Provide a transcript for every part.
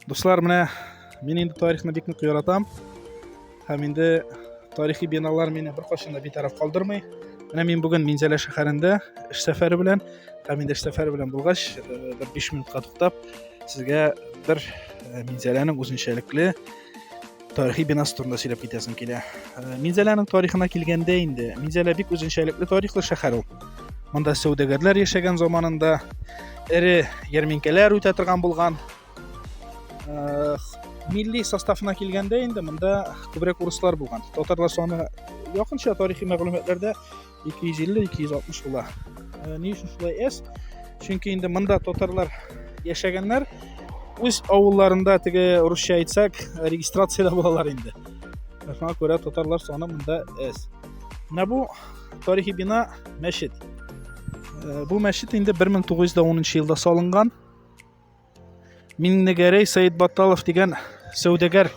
Дуслар, менә мин инде тарихны бик нык яратам. Һәм инде тарихи биналар мине беркайчан да битараф калдырмый. Менә мин бүген Минзәлә шәһәрендә эш сәфәре белән, һәм инде эш сәфәре белән булгач, э, бер 5 минутка туктап, сезгә бер э, Минзәләнең үзенчәлекле тарихи бинасы турында сөйләп китәсем килә э, минзәләнең тарихына килгәндә инде минзәлә бик үзенчәлекле тарихлы шәһәр ул монда сәүдәгәрләр яшәгән заманында эре ярминкәләр үтә торган булган э, милли составына килгәндә инде монда күбрәк урыслар булган татарлар саны якынча тарихи мәгълүматларда 250-260 була. Э, ни өчен шулай S? Чөнки инде монда татарлар яшәгәннәр. Үз авылларында теге русча әйтсәк, регистрациядә булалар инде. Шуңа күрә татарлар саны монда S. Менә бу тарихи бина мәчет. Э, бу мәчет инде 1910 елда салынган. Миннегәрәй Сәетбаталов дигән сәүдәгәр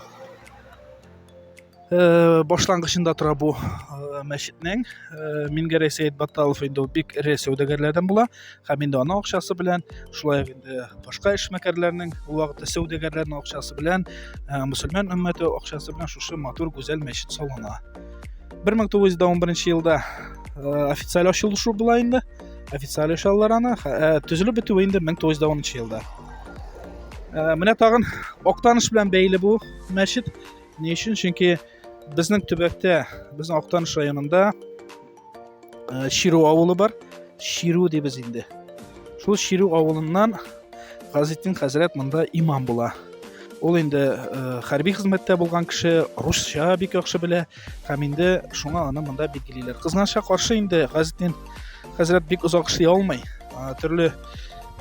э, башлангычында тора бу э, мәчетнең. Э, Мингәрәй Сәетбаталов инде ул бик эре сәүдәгәрләрдән була һәм инде аның акчасы белән, шулай ук инде башка эшмәкәрләрнең ул вакытта сәүдәгәрләрнең акчасы белән, э, мөселман өммәте акчасы белән шушы матур гүзәл мәчет салына. 1911 елда э, официаль ачылышу була инде. официаль ишаллар аны ә, төзелеп бетүе инде 1910 елда ә, менә тагын актаныш белән бәйле бу мәчет ни өчен чөнки безнең төбәктә безнең актаныш районында ә, ширу авылы бар ширу дибез инде шул ширу авылыннан газетин хәзрәт монда имам була ул инде ә, хәрби хезмәттә булган кеше русча бик яхшы белә һәм инде шуңа аны монда билгелиләр кызганычка каршы инде газетен хәзрәт бик озак эшли алмый төрле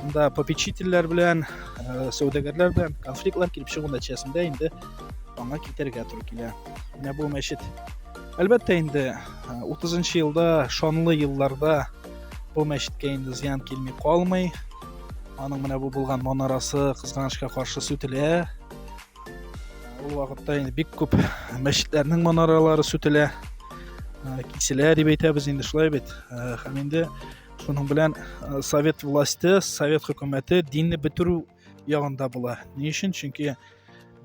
монда попечительләр белән э, сәүдәгәрләр белән конфликтлар килеп чыгу нәтиҗәсендә инде аңа китәргә туры килә менә бу мәчет әлбәттә инде 30 э, нчы елда шанлы елларда бу мәчеткә инде зыян килми калмый аның менә бу булган манарасы кызганычка каршы сүтелә Ул вакытта инде бик күп мәчетләрнең манаралары сүтелә, киселә дип әйтәбез инде шулай бит. Һәм инде шуның белән совет власте, совет хөкүмәте динне бетерү ягында була. Ни өчен? Чөнки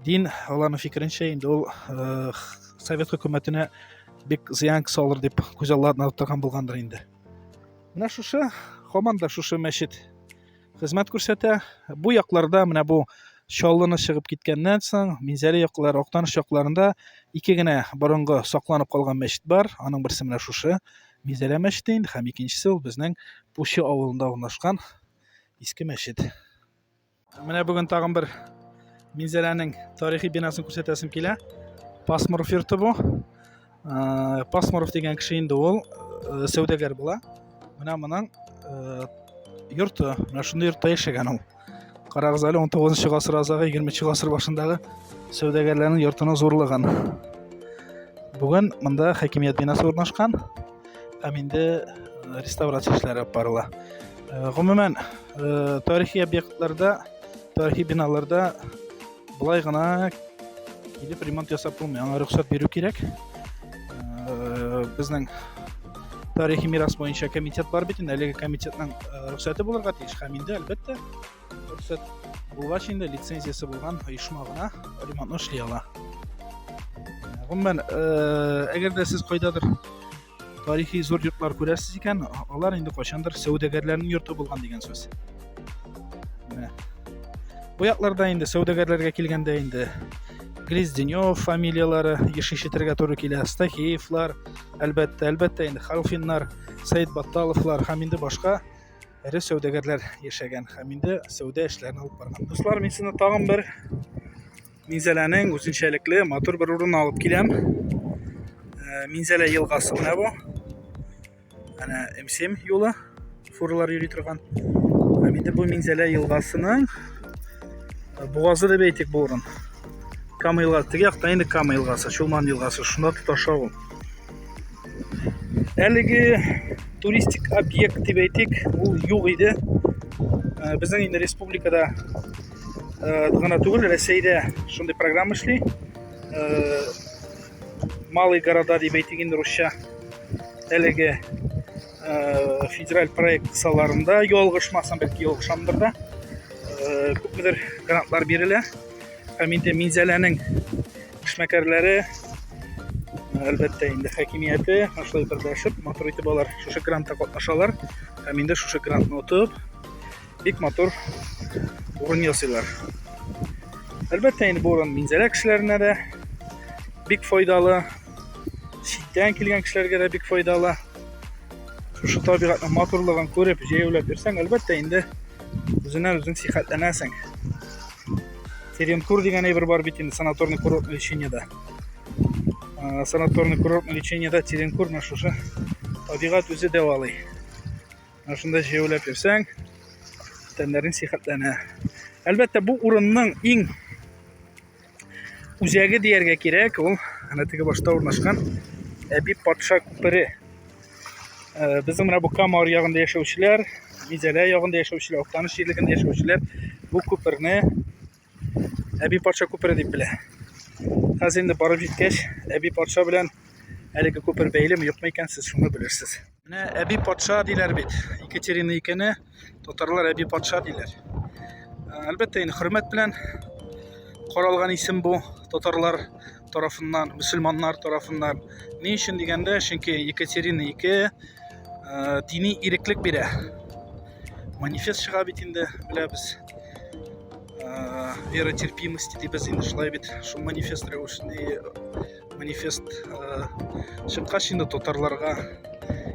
дин аларның фикеренчә инде ул совет хөкүмәтенә бик зыян салыр дип күз алдына тотарган булгандыр инде. Менә шушы, һаман да шушы мәчет хезмәт күрсәтә. Бу якларда менә бу Чаллыны чыгып киткәннән соң, Минзәле яклары, Актаныш якларында ике генә борынгы сакланып калган мәчет бар. Аның берсе менә шушы Минзәлә мәчете инде һәм икенчесе ул безнең Пучы авылында урнашкан иске мәчет. Менә бүген тагын бер Минзәләнең тарихи бинасын күрсәтәсем килә. Пасмур фирты бу. пасмуров дигән кеше инде ул э, сәүдәгәр була менә моның э, йорты менә шундый йортта яшәгән ул карагыз әле он тогызынчы гасыр азагы егерменче гасыр башындагы сәүдәгәрләрнең йортының зурлыгын бүген монда хакимият бинасы урнашкан һәм инде э, реставрация эшләре алып барыла гомумән тарихи объектларда тарихи биналарда Болай гына килеп ремонт ясап булмый, аңа рөхсәт бирү кирәк. Э, безнең тарихи мирас буенча комитет бар бит инде, әлеге комитетның э, рөхсәте булырга тиеш һәм инде әлбәттә рөхсәт булгач инде лицензиясе булган оешма гына ремонтны эшли ала. Гомумән, э, әгәр дә сез кайдадыр Тарихи зур йортлар күрәсез икән, алар инде кайчандыр сәүдәгәрләрнең йорты булган дигән сүз. Менә. Бу якларда инде сәүдәгәрләргә килгәндә инде Гризденев фамилияләре еш ишетергә туры килә. Стахеевлар, әлбәттә, әлбәттә инде Халфиннар, Сәйд Батталовлар һәм инде башка эре сәүдәгәрләр яшәгән һәм инде сәүдә эшләрен алып барган. Дуслар, мин сезне тагын бер Минзәләнең үзенчәлекле матур бер урын алып киләм. Э, Минзәлә елгасы менә бу. Әнә М7 юлы фуралар йөри торган. Һәм инде бу Минзәлә елгасының э, бугазы дип әйтик бу урын. Кама елгасы, теге якта инде Кама елгасы, Чулман елгасы, шунда тоташа ул. Әлеге туристик объект дип әйтик, ул юк иде. Э, Безнең инде республикада э, гына түгел рәсәйдә шундый программа эшли э, малый города дип әйтик инде русча әлеге э, федераль проект кысаларында ялгышмасам бәлки ялгышамдыр да күпмедер грантлар бирелә һәм инде минзәләнең эшмәкәрләре әлбәттә инде хакимияте шулай берләшеп матур итеп алар шушы грантта катнашалар һәм инде шушы грантны отып бик матур урын ясыйлар. Әлбәттә, инде бу урын Минзәлә кешеләренә дә бик файдалы, читтән килгән кешеләргә дә бик файдалы. Шушы табигатьнең матурлыгын күреп, җәяүләп йөрсәң, әлбәттә, инде үзеннән үзең сихәтләнәсең. Теренкур дигән әйбер бар бит инде санаторный курортный лечениедә. Ә, санаторный курортный лечениедә Теренкур менә шушы табигать үзе дәвалый. Менә шунда җәяүләп йөрсәң, тәннәрең сихәтләнә. Әлбәттә, бу урынның иң үзәге дияргә кирәк, ул әнә теге башта урнашкан Әби патша күпере. Э, Безнең менә бу Кама аръягында яшәүчеләр, Мизәлә ягында яшәүчеләр, Актаныш җирлегендә яшәүчеләр бу күперне әби патша күпере дип белә. Хәзер инде барып җиткәч, әби патша белән әлеге күпер бәйлеме юкмы икән, сез шуны белерсез. Менә әби патша диләр бит. Екатерина икене татарлар әби патша диләр. Әлбәттә, инде хөрмәт белән каралган исем бу татарлар тарафыннан, мөселманнар тарафыннан. Ни өчен дигәндә, чөнки Екатерина 2 дини иреклек бирә. Манифест чыга бит инде, беләбез. Вера терпимости дибез инде шулай бит. Шул манифест рәвешендә манифест чыккач инде татарларга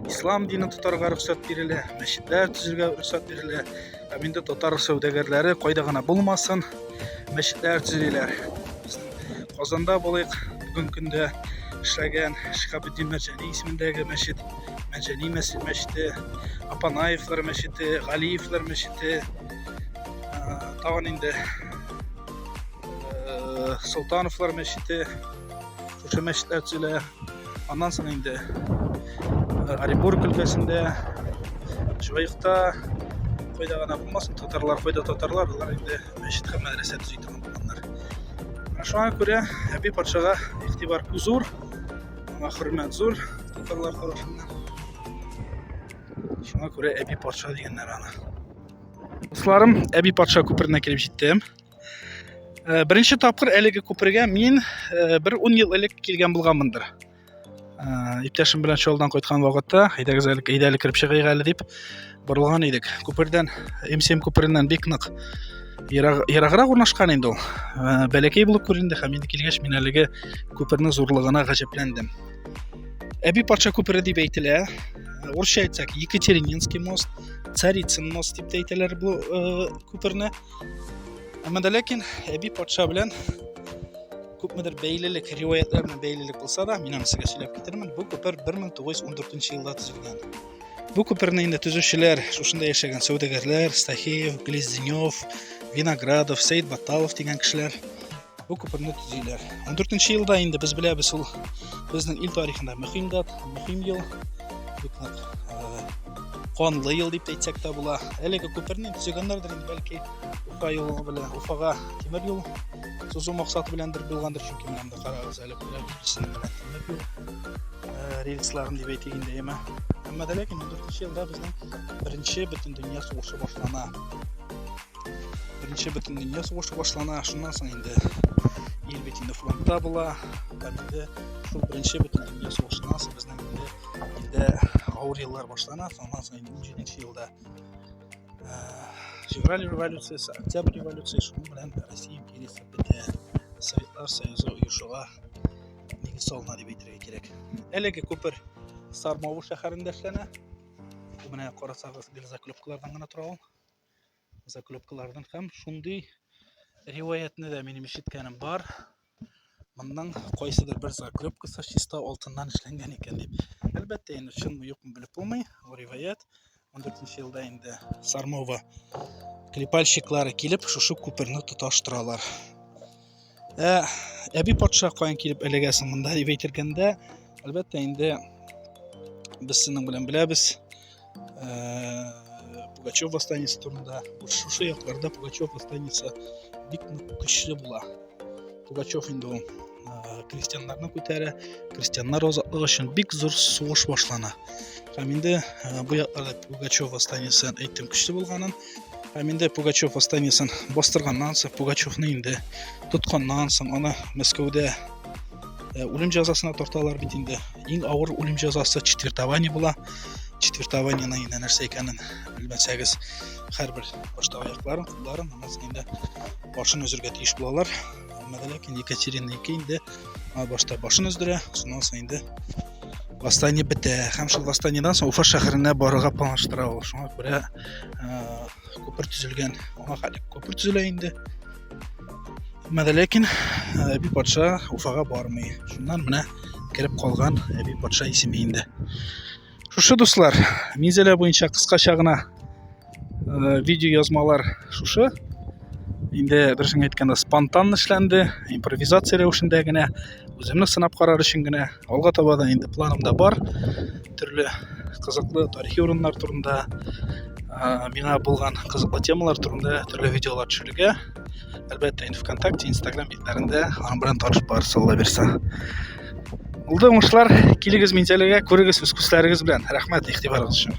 ислам динен тотарга рөхсәт бирелә, мәчетләр төзергә рөхсәт бирелә. Ә инде татар сәүдәгәрләре кайда гына булмасын, мәчетләр төзиләр. Казанда булыйк. Бүген көндә эшләгән Шикабетдин Мәҗәни исемендәге мәчет, Мәҗәни мәчете, Апанаевлар мәчете, Галиевлар мәчете, тагын инде Солтановлар мәчете, шушы мәчетләр төзелә. Аннан соң инде Оренбург өлкәсендә, Шуайыкта, кайда гына булмасын, татарлар, кайда татарлар, алар инде мәчет һәм мәдрәсә төзи булганнар. Ә шуңа күрә әби патшага игътибар зур, аңа хөрмәт зур татарлар тарафыннан. Шуңа күрә әби патша дигәннәр аны. Дусларым, әби патша күперенә килеп җиттем. Э, беренче тапкыр әлеге күпергә мин э, бер 10 ел элек килгән булганмындыр. ә, иптәшем белән чолдан кайткан вакытта әйдәгез әле әйдә әле кереп чыгыйк әле дип борылган идек күпердән мсм күпереннән бик нык ераг, ераграк урнашкан инде ул ә, бәләкәй булып күренде һәм инде килгәч мин әлеге күпернең зурлыгына гаҗәпләндем әби патша күпере дип әйтелә орысча әйтсәк екатерининский мост царицын мост дип тә әйтәләр бу э, күперне әмма дә ләкин әби патша белән Күпмедер бәйлелек, риваятлар белән бәйлелек булса да, мин аны сезгә сөйләп китермен. Бу күпер 1914 елда төзелгән. Бу күперне инде төзүчеләр шушында яшәгән сәүдәгәрләр, Стахеев, Глезденев, Виноградов, Сәйд Баталов дигән кешеләр бу күперне төзиләр. 14 елда инде без беләбез ул безнең ил тарихында мөһим дат, мөһим ел. Бик нык канлы ел дип әйтсәк тә була. Әлеге күперне төзегәннәрдер инде бәлки Уфа юлы белән Уфага тимер юл сузу максаты беләндер булгандыр чөнки менә монда карагыз әле бүләк икесен тәмләп юк рельсларын дип әйтик инде яме әмма дә ләкин ундүртенче елда безнең беренче бөтен дөнья сугышы башлана беренче бөтен дөнья сугышы башлана шуннан соң инде ил бит инде фронтта була һәм инде шул беренче бөтен дөнья сугышыннан соң безнең инде илдә авыр еллар башлана соннан соң инде унҗиденче елда февраль революциясе, с октябрь революции шуның белән Россия империясе бетә. Советлар Союзы оешуга нигез салына дип әйтергә кирәк. Әлеге күпер Сармавы шәһәрендә эшләнә. Бу менә карасагыз, бер заклепкалардан гына тора ул. Заклепкалардан һәм шундый риваятны да минем ишеткәнем бар. Монның кайсыдыр бер закрепкасы чиста алтыннан эшләнгән икән дип. Әлбәттә, инде чынмы юкмы белеп булмый. Бу риваять 14 елда инде Сармова клепальщиклары килеп, шушы күперне тоташтыралар. Ә әби патша каян килеп элегә соң монда дип әйтергәндә, әлбәттә, инде без синең белән беләбез. Пугачев восстаниесі турында шушы якларда Пугачев восстаниесі бик көчле була Пугачев инде ул крестьяннарны күтәрә крестьяннар азатлыгы өчен бик зур сугыш башлана һәм инде бу якларда Пугачев восстаниесен әйттем көчле булганын Һәм инде Пугачев останисын бастырганнан соң, Пугачевны инде тотканнан соң, аны Мәскәүдә үлем җәзасына тарталар бит инде. Иң авыр үлем җәзасы четвертование була. Четвертованиеның инде нәрсә икәнен белмәсәгез, һәрбер башта аякларын, кулларын, аннан инде башын өзергә тиеш булалар. Алмады ләкин Екатерина ике инде башта башын өздерә, шуннан соң инде восстание бетә. Һәм шул восстаниедән соң Уфа шәһәренә барырга планлаштыра ул. Шуңа күрә күпер төзелгән. Аңа хәле күпер төзелә инде. Мәдә ләкин Әби патша Уфага бармый. Шуннан менә кереп калган Әби патша исеме инде. Шушы дуслар, мизәлә буенча кыскача гына э, видео язмалар шушы. Инде берсен әйткәндә спонтан эшләнде, импровизация рәвешендә генә, үземне сынап карар өчен генә. Алга таба да инде планымда бар. Төрле кызыклы тарихи урыннар турында, э, миңа булган кызыклы темалар турында төрле видеолар төшерергә. Әлбәттә, инде ВКонтакте, Инстаграм битләрендә аның белән танышып барырсыз, Алла бирсә. Булды уңышлар, килегез Минзәләгә, күрегез үз күзләрегез белән. Рәхмәт игътибарыгыз өчен.